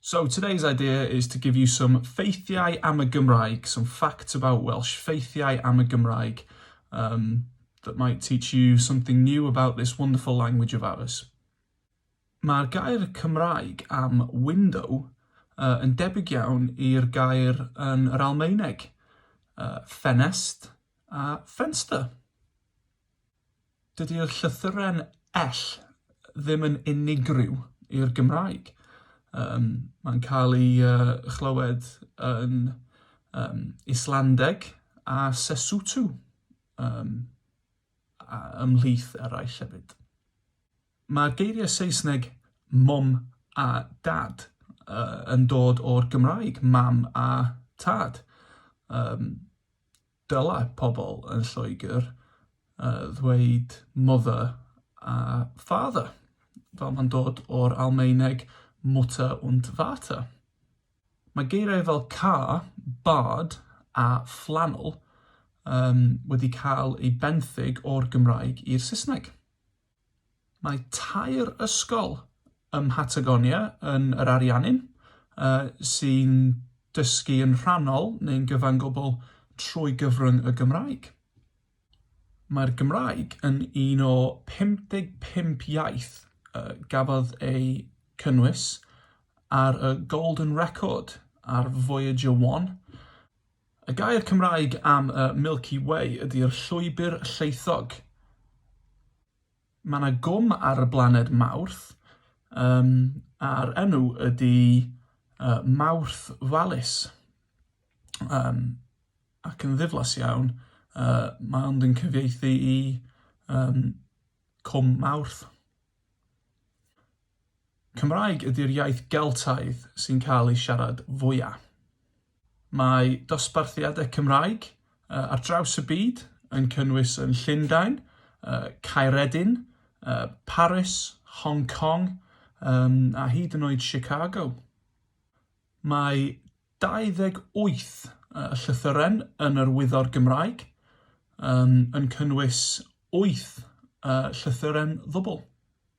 So today's idea is to give you some ffeithiau am y Gymraeg, some facts about Welsh, ffeithiau am y Gymraeg, um, that might teach you something new about this wonderful language of ours. Mae'r gair Cymraeg am window uh, yn debyg iawn i'r gair yn yr Almaeneg, uh, ffenest a fenster. Dydy'r llythyren ell ddim yn unigryw i'r Gymraeg. Um, mae'n cael ei uh, chlywed yn um, Islandeg a Sesotho um, a ymhlith eraill hefyd. Mae'r geiriau Saesneg mom a dad uh, yn dod o'r Gymraeg, mam a tad. Um, Dylai pobl yn Lloegr ddweud mother a father, fel mae'n dod o'r Almaeneg Mutter und Vater. Mae geiriau fel car, bard a flannel wedi cael eu benthyg o'r Gymraeg i'r Saesneg. Mae tair ysgol ym Mhatagonia yn yr Ariannin sy'n dysgu yn rhannol neu'n gyfan gwbl trwy gyfrwng y Gymraeg. Mae'r Gymraeg yn un o 55 iaith y gafodd eu cynnwys ar y Golden Record ar Voyager One, Y gair Cymraeg am y Milky Way ydy'r Llwybr Llaethog. Mae yna gwm ar y blaned Mawrth, um, a'r enw ydy uh, Mawrth Vallis. Um, ac yn ddiflas iawn, uh, mae ond yn cyfieithu i um, Cwm Mawrth. Cymraeg ydy'r iaith Geltaidd sy'n cael ei siarad fwyaf. Mae dosbarthiadau Cymraeg ar draws y byd yn cynnwys yn Llundain, Caeredin, Paris, Hong Kong a hyd yn oed Chicago. Mae 28 llythyren yn yr Wyddor Gymraeg yn cynnwys wyth llythyren ddwbl.